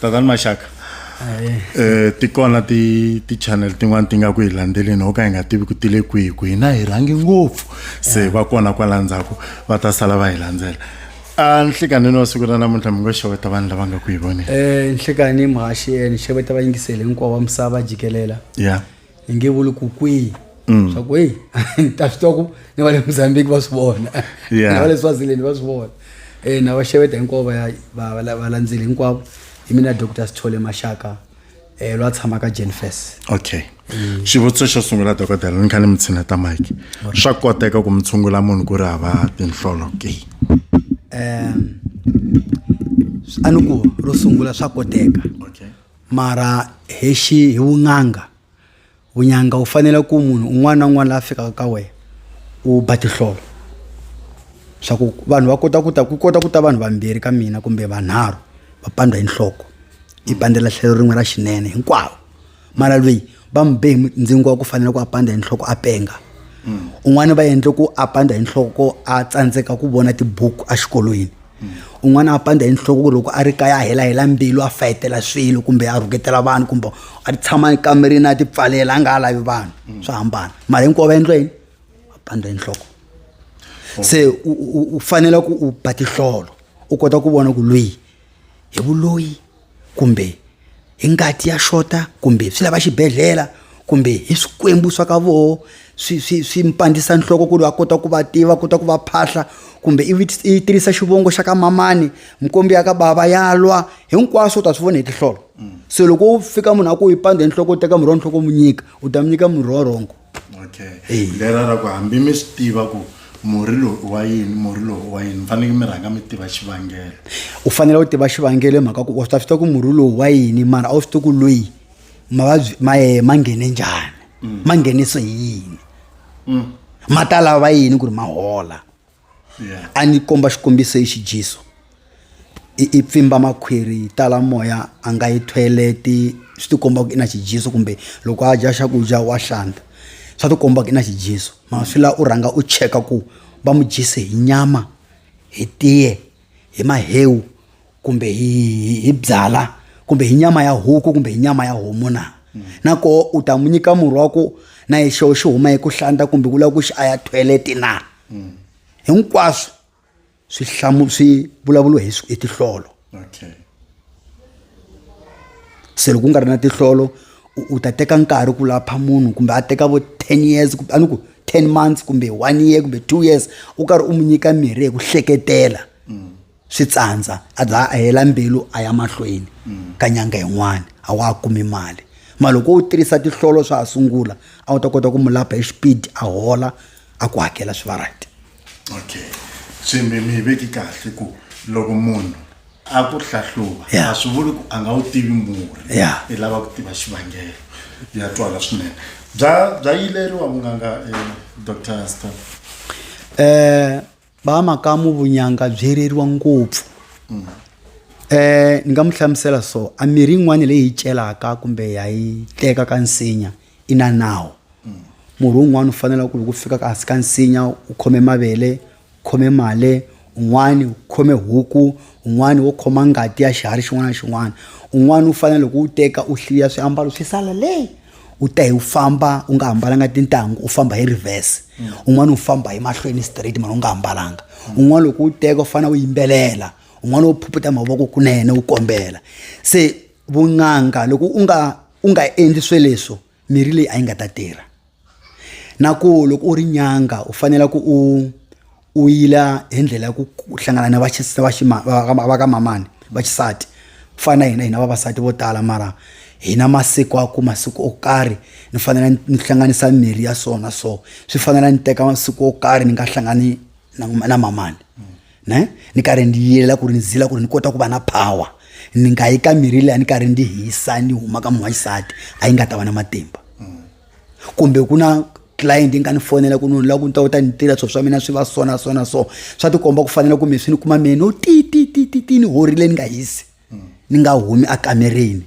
tatani maxaka um ti kona ti-channel tin'wani ti nga ku hi landzeleni ho ka hi nga tivi ku tile kwihi ku hina hi rhangi ngopfu se va kona kwala ndzhaku va ta sala va hi landzela a nhlikanini wa siku ra namuntlha mi ngo xeweta vanhu lava nga ku hi voneni um nhlikanini muhaxi ni xeweta vayingiseli hinkwawo wa misava jikelela ya yeah. ni nge vuli ku kwihi mm. swa ku heyi ni ta swi twa ku ni va le mozambique va swi vona na va le swazileni va swi vona um na vaxeveta hinkwavo va landzeli hinkwavo hi mina doctor sithole maxaka um lwa tshamaka jenfes okay mm. xivutiso xo sungula dokodela ni kha ni mi tshineta mike swa koteka ku mi tshungula munhu ku ri hava tinhlolo ke um a ni ku ro sungula swa koteka mara hi xi hi vun'anga vun'anga wu fanele ku munhu un'wana na un'wana la fikaka ka wena u ba tihlolo swa ku vanhu va kota ku ta ku kota ku ta vanhu vambirhi ka mina kumbe vanharhu va pandza hi nhloko yi pandzela tlhelo rin'we ra xinene hinkwavo mara lweyi va mi be hi ndzingo wa ku fanele ku a pandza hi nhloko a penga mm. un'wana va endle ku a pandza hi nhloko a tsandzeka ku vona tibuku exikolweni mm. un'wana a pandza hi nhloko ku loko a ri kaya a hela hela mbilu a fayetela swilo kumbe a rhuketela vanhu kumbe a tshama ekamerini a tipfalela a nga ha lavi vanhu mm. swa hambana mara hinkwavo va endla yini a pandza hi nhloko oh. se u fanele ku u ba tihlolo u kota ku vona ku loyi hi vuloyi kumbe hi ngati ya xota kumbe swi lava xibedhlele kumbe hi swikwembu swa ka voho swi swi swi mpandzisa nhloko ku ri va kota ku va tiva kota ku va phahla kumbe i i tirhisa xivongo xa ka mamani mikwembu ya ka bava ya lwa hinkwaswo u ta swi vona hi tihlolo se loko u fika munhu a ku yi pandza enhloko u teka murhi wa nhloko u mu nyika u ta mi nyika murhi wa wrong. okay Eyi. lera ra ku hambi mi swi tiva ku murhi lowu i wa yini murhi lowu i wa yini mi fanele mi rhanga mi tiva xivangelo u fanele u tiva xivangelo hi mhaka ku wa swi ta swi tiva ku murhi lowu wa yini mara a wu swi tiva ku loyi mavabyi ma ye ma nghene njhani ma nghenise hi yini ma ta lava yini ku ri ma hola a ni komba xikombiso i xijesu i i pfimba makhwiri yi tala moya a nga yi toilet swi ti komba ku i na xijesu kumbe loko a dya xakudya wa hlanta swa ti komba ku i na xijesu mara swi la u rhanga u cheka ku va mu dyise hi nyama hi tiye hi mahewu. kumbe hi hi- hi byala kumbe hi nyama ya huku kumbe hi nyama ya homu na na koho u ta n'wi nyika murhi wa ku na hi xo xi huma hi ku hlanta kumbe ku lava ku xi a ya thoyeleti na hinkwaswo swi hlamu swi vulavuliwa hi swi- hi tihlolo okay se loko u nga ri na tihlolo u- u ta teka nkarhi ku lapha munhu kumbe a teka vo ten years kumbe a ni ku ten months kumbe one year kumbe two years u karhi u n'wi nyika mirhi hi ku hleketela swi tsandza a za a hela mbilu a ya mahlweni mm. ka nyanga yin'wana a wa ha kumi mali ma loko u tirhisa tihlolo swa ha sungula a wu ta kota ku mu lapha hi xipidi a hola a ku hakela swi va right okay se mi mi veki kahle ku loko munhu a ku hlahluva a swi vuli ku a nga wu tivi murhi i lava ku tiva xivangelo ya twala swinene bya bya yileriwa munganga eh, dr staff um eh, ba makamu vunyanga byi reriwa ngopfu um ni nga mu hlamusela so a mirhi yin'wana leyi hi celaka kumbe ha yi teka ka nsinya i na nawu murhi wun'wana u fanela ku loko u fika kasi ka nsinya u khome mavele u khome male un'wani u khome huku un'wani wo khoma ngati ya xiharhi xin'wana na xin'wana un'wani u fanele loko u teka u hliya swiambalo swi sala leyi u te u famba u nga hambalanga tintangu u famba hi reverse mm. un'wana u famba hi mahlweni straight mara u nga hambalanga mm. un'wana loko u teka u fanele u yimbelela un'wana u phuphuta mavoko kunene u kombela se vun'anga loko u nga u nga endli swe leswo mirhi leyi a yi nga ta tirha na ku loko u ri nyanga u fanele ku u u yila hi ndlela ya ku hlangana na va va ka mamani va xisati ku fana na hina hina vavasati vo tala mara hina masiku a ku masiku o karhi ni fanele ni hlanganisa mirhi ya so na so swi fanela ni teka masiku o karhi ni nga hlangani na na mamani ne ni karhi ni yila ku ri ni zila ku ri ni kota ku va na power ni nga yi ka mirhi liya ni karhi ni hisa ni huma ka munhu wa xisati a yi nga ta va na matimba. kumbe ku na client yi nga ni fonela ku nunu la ku ni ta u ta ni tirha swilo swa mina swi va so na so na so swa tikomba ku fanele kumbe swi ni kuma mina o ti ti ti ti ti ni horile ni nga hisi ni nga humi ekamereni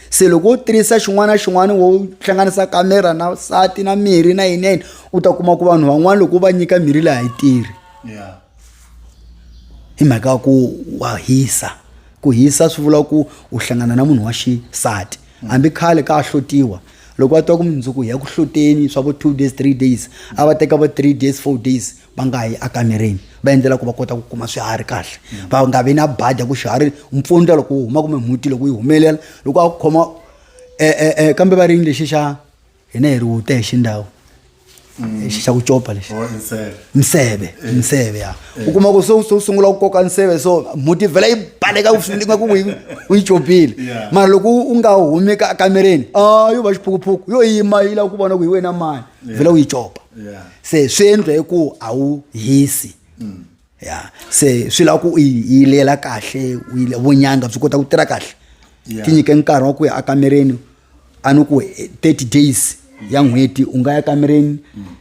se loko u tirhisa xin'wana na xin'wana wo hlanganisa kamera na sati na mirhi na yini yini u ta kuma ku vanhu van'wana loko u va nyika mirhi leyi a yi tirhi hi mhaka ya ku wa hisa ku hisa swi vula ku u hlangana na munhu wa xisati hambi khale ka hlotiwa loko va twa ku mundzuku ya ku hloteni swa vo two days three days a va teka vo three days four days va nga yi ekamereni va endlela ku va kota ku kuma swiharhi kahle va nga vi na badya ku xiharhi mpfundla loko wu huma kumbe mhuti loko yi humelela loko a ku khoma e, e, e, kambe va rini lexi xa hina hi ri wute hi xindhawu lexi xa ku copa lexi or inside miseve miseve ya u kuma ku se u- se u sungula ku koka nseve so mhuti vhela yi baleka ku swinga ku yi- u yi copile Yeah. mara loko u nga humi ka kamereni a yo va xiphukuphuku yo yima yi lava ku vona ku hi wena mani vhela u yi copa yeah se swi endla hi ku a wu hisi ya se swi lava ku u yilela kahle vunyanga byi kota ku tirha kahle yeah. tinyike nkarhi wa ku ya ekamereni a ni ku 30 days ya n'hweti u nga ya kamereni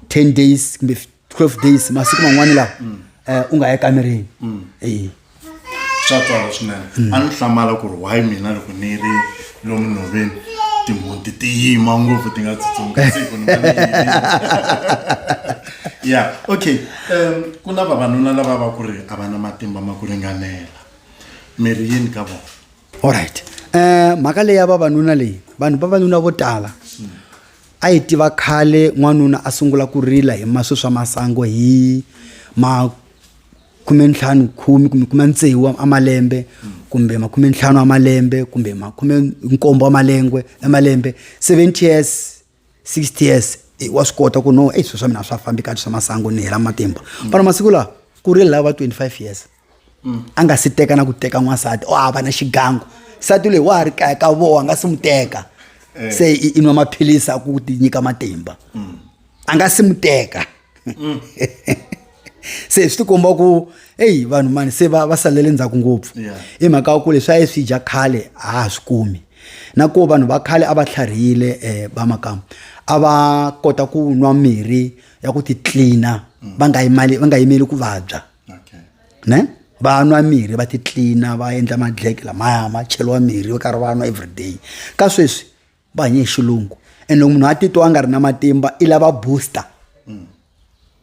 10 days kumbe 12 days masiku man'wana lawa mm. eh, u nga ya kamereni mm. swa tswala swinene a ni hlamala ku ri why mina loko ni ri lomu nhoveni timhunti ti yima ngopfu ti nga tsutsumi kasi ku ni ya okay um ku na vavanuna lava va ku ri a va na matimba ma ku ringanela mi ri yini ka vona allright um eh, mhaka leyi ya vavanuna leyi vanhu vavanuna vo tala a yi tiva khale n'wanuna a sungula ku rila hi maswi swa masango hi ma khumentlhanu khumi kumbe khumentsevu wa malembe kumbe makhumentlhanu wa malembe kumbe makhumenkombo wa malengwe ya malembe seventy years sixty years wa swi kota ku no ei swilo swa mina swa fambi kahle swa masangu ni hela matimba vana masiku lawa ku ri lava twenty five years a nga si teka na ku teka n'wansati o hava na xigangu nsati leyi wa ha ri kaya ka voho a nga si n'wi teka se i nwa maphilisi a ku ti nyika matimba a nga si mu teka mm. se swi tikomba ku eyi vanhu mani se va va salele ndzhaku ngopfu i mhaka wa ku leswi a yi swi dya khale a ha swi kumi na ku vanhu va khale a va tlharihile um eh, va makama a va kota ku nwa mirhi ya ku titlina mm. va nga yimali va nga yimeli ku vabya ne va nwa mirhi va titlina va endla madleke lamaya ma cheliwa mirhi va karhi va nwa everyday ka sweswi va hanye hi xilungu and loko munhu a titwa a nga ri na matimba i lava booster mm.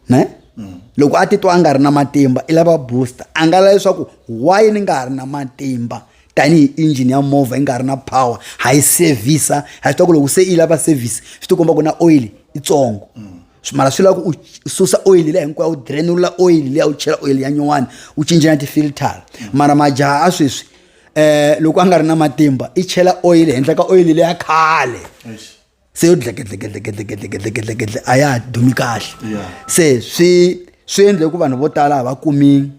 ne mm. loko a titwa a nga ri na matimba i lava booster a nga la leswaku why ni nga ha ri na matimba tanihi engine ya movha yi nga ri na power ha yi sevhisa ha swi ta ku loko se yi lava service swi ti komba ku na oil itsongo mm. mara swi lava ku u susa oil leya hinkwayo u drenula oil leya u chela oil ya nyuwani u cinca na ti-filter mara majaha a sweswi eh loko a nga ri na matimba i chela oyili henhla ka oyili leya khale se yo dlekedlekedlekedlekedlekedlekedle a ya ha dumi kahle se swi swi endle ku vanhu vo tala ha va kumi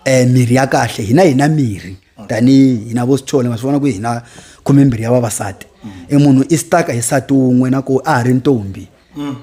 um mirhi ya kahle hina hina mirhi tanihi hina vo sithole ma swi vona ku hina khome mbirhi ya vavasati mm. i munhu i staka hi sati wun'we na ku a ha ri ntombi mm.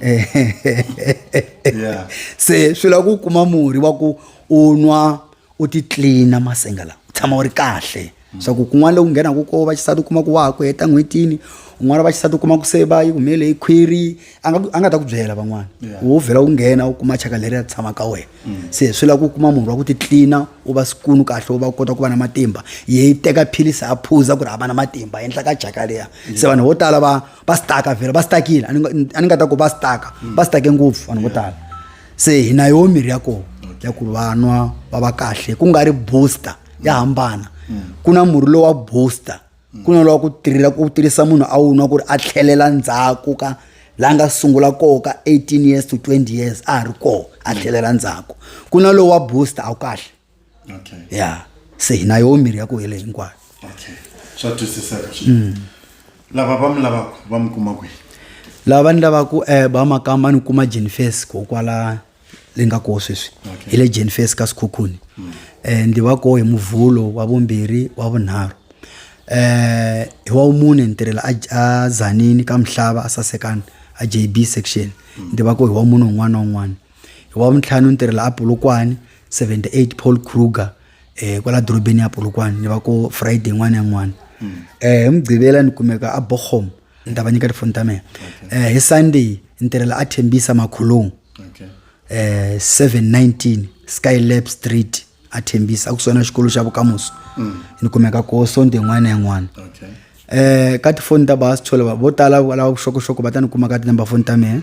se swi lava ku kuma murhi wa ku u nwa u ti tlilina masenga lawa u tshama u ri kahle swa ku kun'wana loku nghenaka ko va xisati u kuma ku wa ha ku heta n'hwetini un'wana va xisati u kuma ku se va yi humele hi khwiri a nga a nga ta ku byela van'wana wo vhela u nghena u kuma chaka leri ya tshama ka wena mm. se swi lava ku kuma munhu wa ku titlina u va sikunu kahle u va kota ku va na matimba yi teka philisi a phuza ku ri a va na matimba endla ka jaka leya mm. se vanhu vo tala va va staka vhela va stakile a ni nga ta ku va staka mm. va stake ngopfu vanhu vo tala se hi na yoho mirhi ya koho ya ku vanwa va va kahle ku nga ri booster ya hambana ku na murhi lowu wa booster ku na lowa ku tirhela ku tirhisa munhu a wu nwa ku ri a tlhelela ndzhaku ka la nga sungula koho ka 18 years to 20 years a ha ri koho a tlhelela ndzhaku ku na lowu wa booster a wu kahle okay. ya se hi na yoho mirhi ya ku hele hinkwayo okay swa twisiseka swinene mm. lava va mi lavaka va mi kuma kwihi lava va ni lavaka um ba makamba ni kuma jenifes ko kwala leyi nga koho sweswi okay. hi le jenifes ka sikhukhuni mm. um ndi va koho hi muvhulo wa vumbirhi wa vunharhu eh hi wa mune ni tirhela a zanini ka mihlava a sasekana a jb section ni tiva ku hi wa munhu un'wana na un'wana hi wavuntlhanu ni tirhela a polokwane 78 paul kruger eh kwala dorobeni ya polokwane ni va ko friday n'wana ya n'wana mm. eh hi mugqivela ni kumeka a bochom ni ta va nyika tifoni ta mina eh hi sunday ni tirhela a thembisa makhulung eh 719 skylab street a thembisa a kusona xikolo xa vukamuso mm. ni kumeka ko sonde n'wana ya n'wana eh ka tifoni ta va sithole vo tala lava vuxokoxoko va ta ni kuma ka tinumber foni ta mina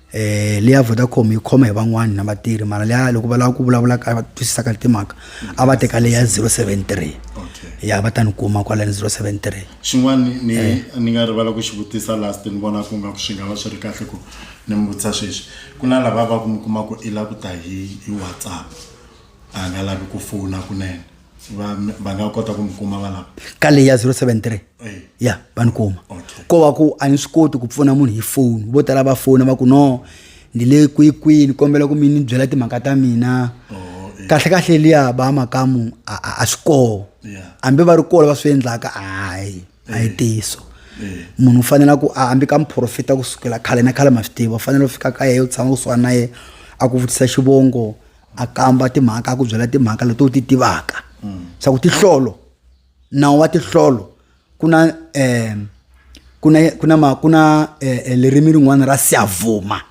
eh leya Vodacom yi khoma hi van'wana na vatirhi mara leya loko va lava ku vulavula ka va twisisa ka timhaka a va teka leya 073 okay ya va ta ni kuma kwala ni 073 xin'wana ni- ni Eh. ni nga rivala ku xi vutisa last ni vona ku nga ku swi nga va swi ri kahle ku ni mi vutisa sweswi ku na lava va ku mi kuma ku i la ku ta hi hi whatsapp a nga lavi ku fona kunene va va nga kota ku mi kuma va lava ka leyi ya 073 Eh. ya va ni kuma Okay. ko va ku a ni swi koti ku pfuna munhu hi foni vo tala va fona va ku no ni le kwikwini kombela ku mi ni byela timhaka ta mina Oh, eh. kahle kahle liya ba makamu a a- a swi koho Yeah. hambi va ri kola va swi endlaka hayi a yi tiso Eh. munhu u fanele ku a hambi ka muprofita ku sukela khale na khale ma swi tiva u fanele u fika ka yehe u tshama kusuhani na yehe a ku vutisa xivongo a kamba timhaka a ku byela timhaka leti u ti tivaka swa ku tihlolo nawu wa tihlolo ku na um ku na ku na ku na eh, eh, lerimi rin'wana ra siyavuma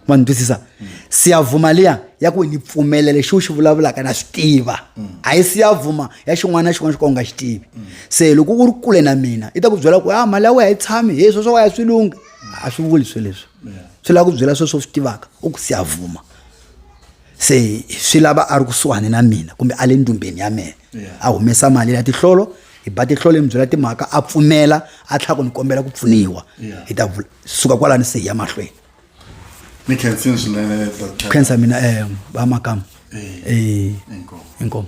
ma ni twisisa siyavuma liya ya ku ni pfumela lexi u xi vulavulaka na swi tiva a yi siyavuma ya xin'wana na xin'wana xo ka u nga xi tivi se loko u ri kule na mina i ta ku byela ku a ah, mali ya wena yi tshami hi sweswo wa ya swi lunghi a swi vuli swe leswi swi lava ku byela sweswo swi tivaka u ku siyavuma se swi lava a ri kusuhani na mina kumbe a le ndumbeni ya mina a humesa mali ya tihlolo hi ba tihlolo hi mi byela timhaka a pfumela a tlhela ku ni kombela ku pfuniwa hi ta vula suka kwalani se hi ya mahlweni ni khensini swinene doctor khensa mina um vamakama Eh, inkomu.